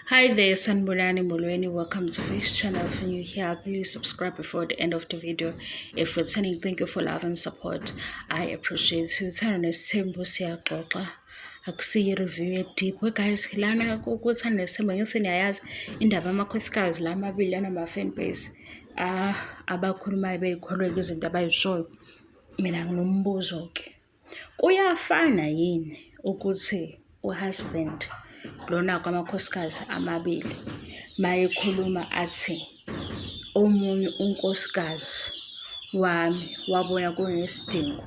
Hi there, Sanbulani Mulweni. Welcome to this channel. If you're new here, please subscribe before the end of the video. If returning, thank you for love and support. I appreciate you. Turn on the same siyaxoxa. Akusiyi review ye deep. We guys, lana kukuthanda nesimo ngise niyayazi indaba amakhosikazi la amabili anama fan base. Ah, abakhulumayo beyikholwe izinto abayishoyo. Mina nginombuzo ke. Kuyafana yini ukuthi uhusband lona kwamakhosikazi amabili mayekhuluma athi omunye unkosikazi wami wabona kunesidingo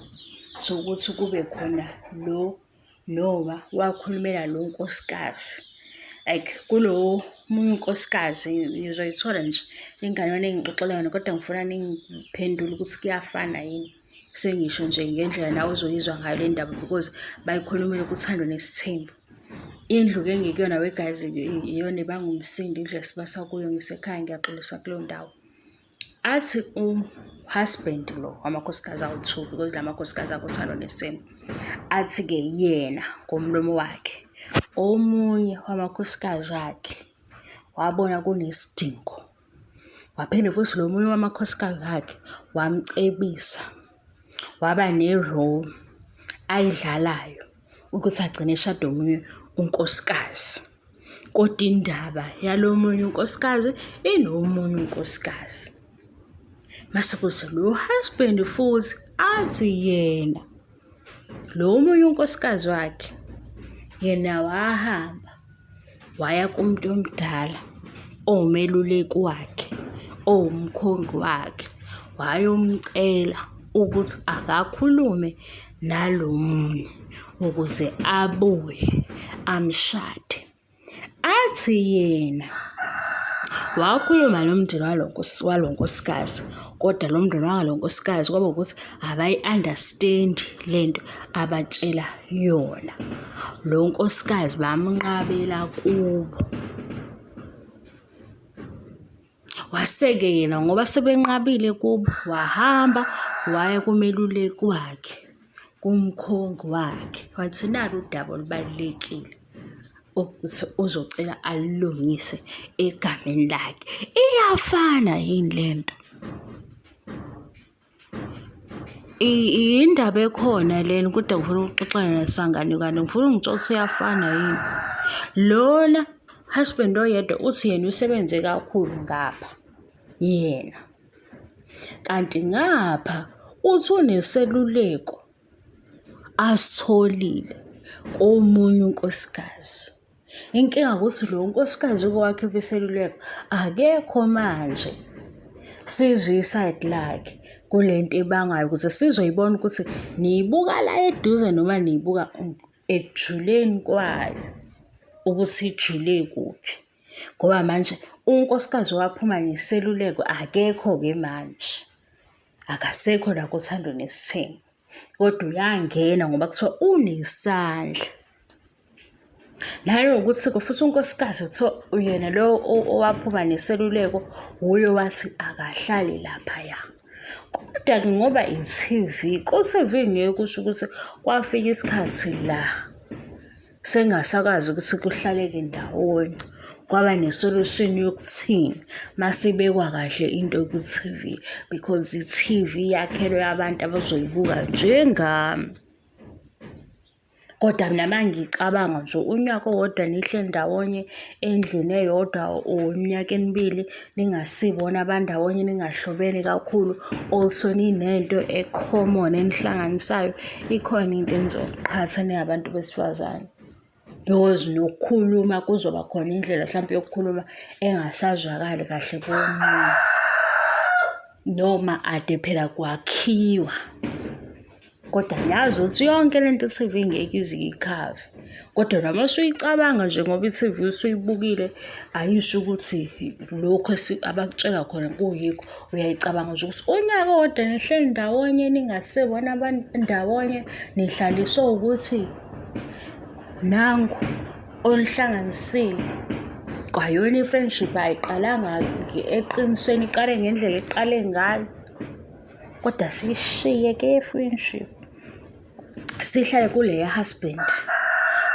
sokuthi kube khona lo noma wakhulumela lo nkosikazi like kulowo munye unkosikazi ngizoyithola nje ingane yona engixoxela yona kodwa ngifuna ningiphendule ukuthi kuyafana yini. sengisho nje ngendlela nawe ozoyizwa ngayo le ndaba because bayikhulumile kuthando nesithembu indlu ke ngikuyona weguys iyona ibanga umsindo indlu esibasa kuyo ngisekhaya ngiyaxolisa kuleyo ndawo athi uhusband lo wamakhosikazi awuthuki because la makhosikazi akuthando nesithembu athi-ke yena ngomlomo wakhe omunye wamakhosikazi akhe wabona kunesidingo waphinde futhi lo munye wamakhosikazi akhe wamcebisa waba ne-role ayidlalayo ukuthi agcine eshade omunye unkosikazi kodwa indaba yalo munye unkosikazi inomunye unkosikazi mase kuthi lo husband futhi athi yena Lo omunye unkosikazi wakhe yena wahamba waya kumuntu omdala owumeluleki wakhe owumkhongi wakhe wayomcela ukuthi akakhulume nalo munye ukuze abuye amshade. athi yena wakhuluma nomndeni walo nkosikazi kodwa lo mndeni wangalo nkosikazi kwaba ukuthi abayi-understand le nto abatshela yona lo nkosikazi bamnqabela kubo Wase-ke yena ngoba sebenqabile kubo wahamba waya kumeluleki wakhe, kumkhongi wakhe, wathi nali udaba olubalulekile ukuthi uzocela alilungise egameni lakhe. Iyafana yini le nto? Indaba ekhona lena kodwa ngifuna ukuxoxana nesangane kanti ngifuna ungitshela ukuthi uyafana yini. Lona husband oyedwa uthi yena usebenze kakhulu ngapha yena. Kanti ngapha uthi uneseluleko asitholile komunye unkosikazi. Inkinga ukuthi lo nkosikazi kwakhe beseluleko akekho manje. Sizwe isayidi lakhe kule nto ebangayo ukuze sizoyibona ukuthi niyibuka la eduze noma niyibuka ekujuleni kwayo ukuthi ijule kuphi. Ngoba manje unkosikazi owaphuma neseluleko akekho-ke manje. Akasekho la kothando nesithembu. kodwa uyangena ngoba kuthiwa unesandla nanokuthi futhi unkosikazi kuthiwa uyena lo owaphuma neseluleko wuye wathi akahlali laphaya kodwa-ke ngoba i-tv ku-tv ngeke kusho ukuthi kwafika isikhathi la sengasakwazi ukuthi kuhlaleke ndawonye kwaba ne-solution yokuthini masibekwa kahle into kwi-TV because i-TV yakhelwe abantu abazoyibuka njengami kodwa mina mangicabanga nje unyaka owodwa nihle ndawonye endlini eyodwa or iminyaka emibili ningasibona abandawonye ningahlobene kakhulu also ninento e-common enihlanganisayo ikhona into enizoqhatha ningabantu besifazane because nokukhuluma kuzoba khona indlela mhlawumpe yokukhuluma engasazwakali kahle komunye noma ade phela kwakhiwa kodwa ngiyazi ukuthi yonke le nto i-T_V ngeke ize iyikhave kodwa noma usuyicabanga nje ngoba i-T_V usuyibukile ayisho ukuthi lokhu abakutshela khona kuyikho uyayicabanga nje ukuthi unyaka owodwa nihleli ndawonye ningasebona abantu ndawonye nihlaliswe ukuthi nangu onihlanganisile kwayona i-friendship ayiqalanga eqinisweni iqale ngendlela eqale ngayo kodwa siyishiye ke friendship sihlale kule ya-husband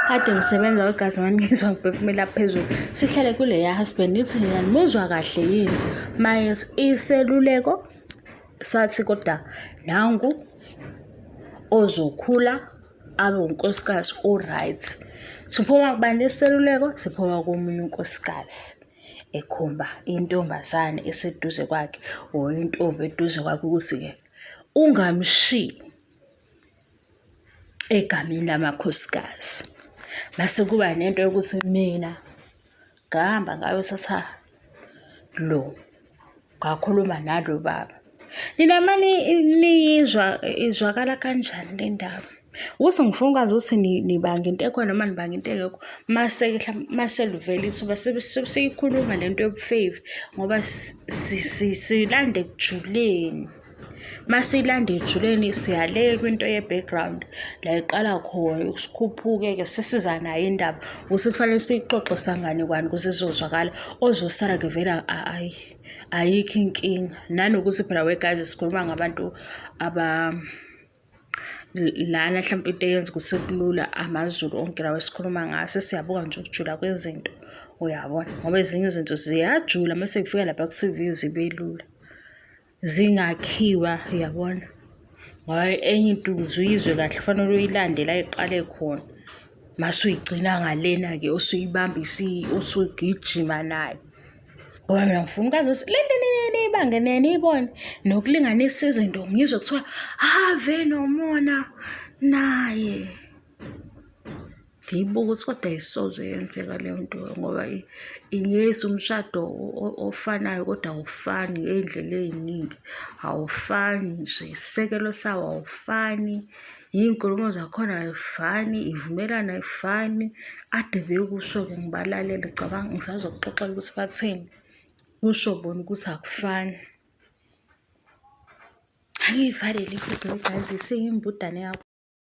kade ngisebenza kwegazi mani ngizwa ngiphefumela phezulu sihlale kule ya-husband ithi nina nimuzwa kahle yini maye iseluleko sathi kodwa nangu ozokhula abe unkosikazi o-right siphuma kubani iseluleko siphuma komunye unkosikazi ekhomba intombazane eseduze kwakhe or intombi eduze kwakhe ukuthi-ke ungamshiyi egameni lamakhosikazi mase kuba nento yokuthi mina ngahamba ngayothatha lo ngakhuluma nalo baba nina mani niyizwa izwakala kanjani le ndaba ukuthi ngifuna ukwazi ukuthi nibanga into ekhona noma nibanga into engekho mase mase luvela ithuba siyikhuluma le nto yobufave ngoba silande ekujuleni Masiyilanda ejuleni siyaleka into ye-background la iqala khona sikhuphuke-ke sisiza nayo indaba ukuthi kufanele siyixoxe sanganekwane ukuze izozwakala ozosala-ke vele ayi ayikho inkinga nanokuthi phela wegazi sikhuluma ngabantu aba lana mhlawumpe into eyenza ukuthi kulula amazulu onke lawa esikhuluma ngaso siyabuka nje ukujula kwezinto uyabona ngoba ezinye izinto ziyajula uma sekufika lapha ku-tv zibe lula zingakhiwa uyabona ngoba enye into ukuze uyizwe kahle kufanele uyilande la iqale khona mase uyigcina ngalena-ke usuyibamba usugijima nayo ngoba mina ngifuna ukwazi ukuthi le nto niyibange neniyibone nokulinganisa izinto ngizwe kuthiwa ave nomona naye ngiyibuka ukuthi kodwa ayisoze yenzeka leyo nto ngoba ingeyisa umshado ofanayo kodwa awufani ngey'ndlela ey'ningi awufani nje isisekelo sawo awufani iy'nkulumo zakhona ayifani ivumelana ayifani ade bekusho-ke ngibalalele cabanga ngisazokuxoxela ukuthi bathini kusho bona ukuthi akufani angiyivalele iphupho yebhayibhile seyimbudane yakho